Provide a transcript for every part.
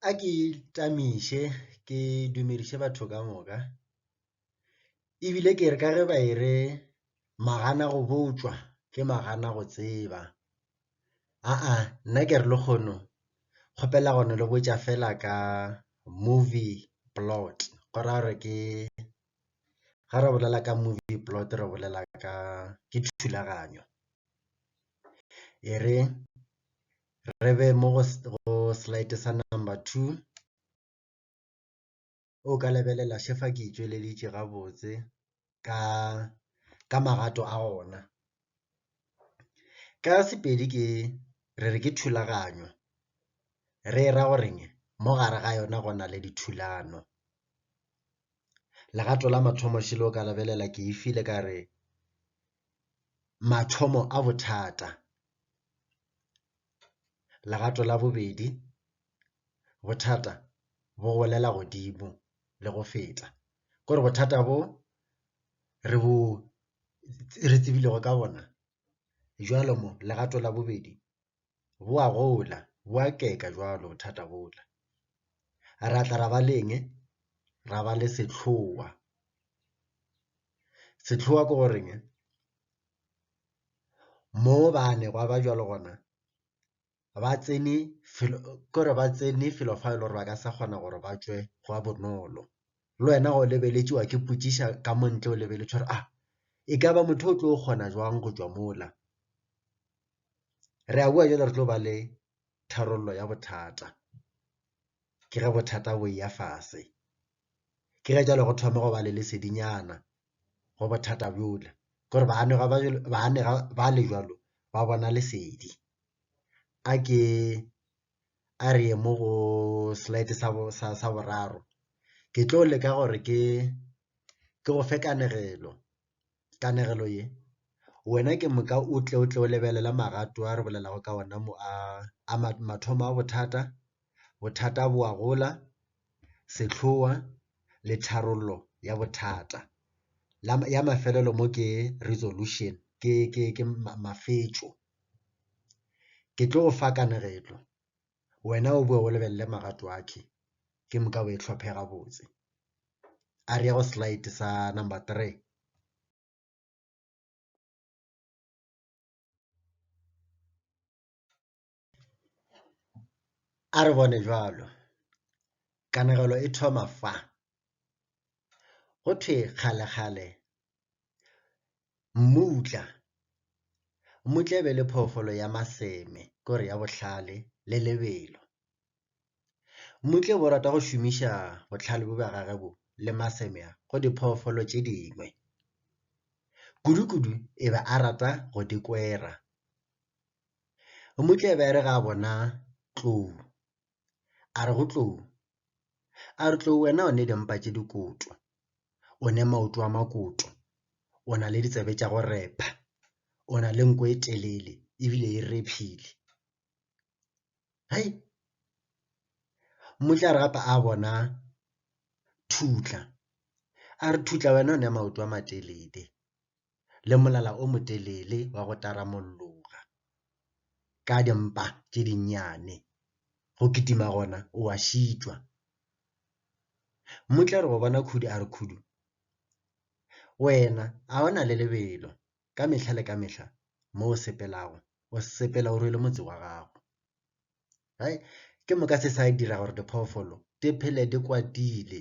A ke itamiše ke dumediše batho ka moka, e bile ke re ka ge ba e re magana go botšwa ke magana go tseba. Aa nna ke re lekgono kgopela go no le botša fela ka movie plot go ra gore ke ge re bolela ka movie plot re bolela ka ke thulaganyo. E re Re be mo go, go slide sa number two. O ka lebelela še fa ke itšweleditše gabotse ka, ka magato a gona. Ka Sepedi ke, re re ke thulaganyo. Re e ra go reng? Mo gare ga yona go na le dithulano. Legato la mathomo še le o ka lebelela ke e file ka re mathomo a bothata. Legato la bobedi, bothata bo golela godimo le go feta. Kore bothata bo re bo re tsebilego ka bona jwalo mo legato la bobedi bo a gola bo a keka jwalo bothata bola. Ra tla ra ba le eng? Ra ba le sehloa, sehloa ke goreng? mo bane gwa ba bjalo gona ba tsene kore ba tsene felo fa e le gore ba ka sa kgona gore ba tšwe gwa bonolo, le wena o lebeletše wa ke ipotšiša ka mo ntle o lebeletše gore a e ka ba motho o tlo kgona jwang go tšwa mola. Re a boa bjale re tlo ba le tharollo ya bothata ke ge bothata bo eya fase, ke ge jwale go thoma go ba le lesedinyana go bothata bjola, ke gore baanegwa ba jwalo, baanega ba le jwalo ba bona lesedi. A ke a re ye mo go slide sa bo, sa, sa boraro. Ke tlo leka gore ke, ke go fe kanegelo, kanegelo ye. Wena ke moka o tle, o tle o lebelele magato a re bolelago ka ona mo a, a mathomo a bothata, bothata bo a gola, sehloa le tharollo ya bothata. La ya mafelelo mo ke resolution ke ke ke mafetšo. Ke tlo go fa kanegetlo wena o boe o lebelele magato a khe ke moka o e tlhophe gabotse. A re ya go slide sa number three. A re bone bjalo, kanegelo e thoma fa. Go thwe kgalekgale mmutla, mmutla e be e le phoofolo ya maseme ke gore ya bohlale le lebelo. Mmutla o be o rata go šomiša bohlale bjo bja gagwe bo le maseme a go diphoofolo tše dingwe. Kudukudu e be a rata go di kwera. Mmutlebe a re ga a bona Tlou, a re go Tlou, a re Tlou wena o ne dimpa tše dikoto, o ne maoto a makoto, o na le ditsebe tša go repha, o na le nko e telele ebile e rephile. Hai, Mmutle a re gape a bona Thutla, a re Thutla wena o ne maoto a matelele, le molala o motelele wa go taramolloga ka dimpa tše dinnyane, go kitima gona o a šitšwa. Mmutle a re go bona Khudu a re, Khudu, wena a o na le lebelo ka mehla le ka mehla mo o sepelago, o sepela o rwele motse wa gago. Hai, ke moka se sa dira gore diphoofolo di phele di kwatile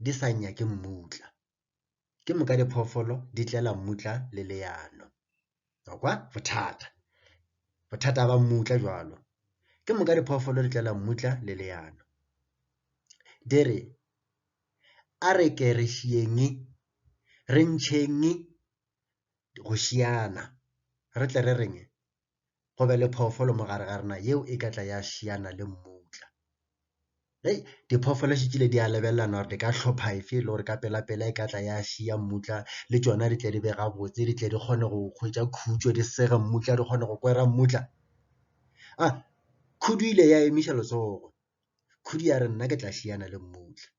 di sa nyake mmutla. ke moka diphoofolo di tlela mmutla le leano wa kwa bothata bothata ba mmutla jwalo ke moka diphoofolo di tlela mmutla le leano di re a re ke re šiyeng re ntšheng go šiana re tle re reng go be le phoofolo mo gare ga rena yeo e ka tla ya šiana le mmutla hei diphoofolo se tsile di a lebelelana gore di ka hlopha efe le gore ka pela pela e ka tla ya šia mmutla le tšona di tle di be gabotse di tle di kgone go hwetša khutšo di sega mmutla di kgone go kwera mmutla a ah, khudu ile ya emiša letsogo khudu ya re nna ke tla šiana le mmutla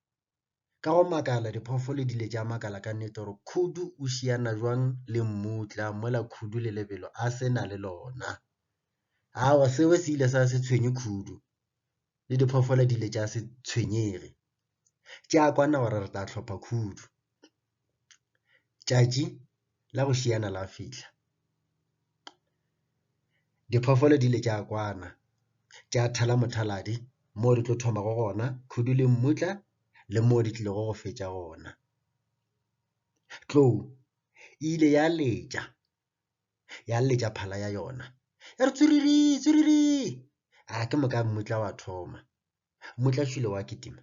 Ka go makala diphoofolo di ile tša makala ka nnete gore Khudu o šiana jwang le mmutla mola Khudu le lebelo a se na le lona. Awa seo se ile sa se tshwenye Khudu le diphoofolo di ile tša se tshwenyege. Tša kwana gore re tla hlopha Khudu. Tšatši la go šiana la fihla. Diphoofolo di ile tša kwana tša thala mothaladi mo di tlo thomago gona khudu le mmutla le mo di tlilego go fetša gona. Tlou e ile ya letša, ya letša phala ya yona ya re, Tswiriri, tswiriri! A ke moka mmutla wa thoma. Mmutla šilo wa kitima.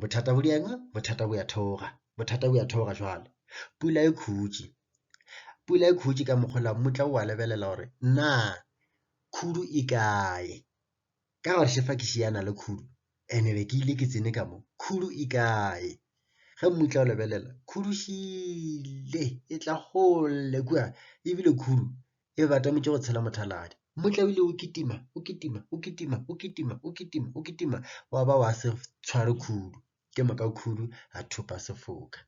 bothata bo dieng bothata bo ya theoga bothata bo ya theoga jwale pula e khutše pula e khutše ka mokgola mmutla o a lebelela gore na khudu e kae ka gore shefa ke šiana le khudu ene be ke ile ke tsene ka mo khudu e kae ge mmutla o lebelela khudu šile e tla gole kua ebile khudu e be ba tametše go tshela mothaladi motlaile o kitima o kitima o kitima o kitima o kitima o kitima wa ba wa se tshware khudu ke moka khudu a thopa sefoka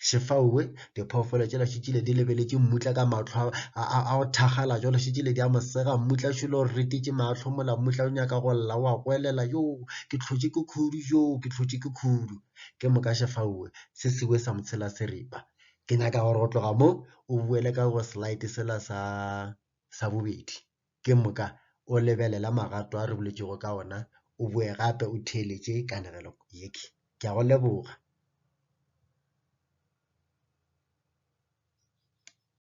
šefaowe diphoofolo tšela šitšile di lebeletše mmutla ka matlho a go thagala jalo šitšile di a mosega mmutla šulo o retetše matlho mola mmutla o nyaka go lla wa goelela yo ke tlhotše ke khudu yo ke tlhotše ke khudu ke moka šefaowe se sewe sa motshela seripa ke nyaka gore go tloga mo o boele ka go slide sela sa sa bobedi ke moka o lebelela magato a re boletšego ka ona o boe gape o theeletše kanegelo yeke ke a go leboga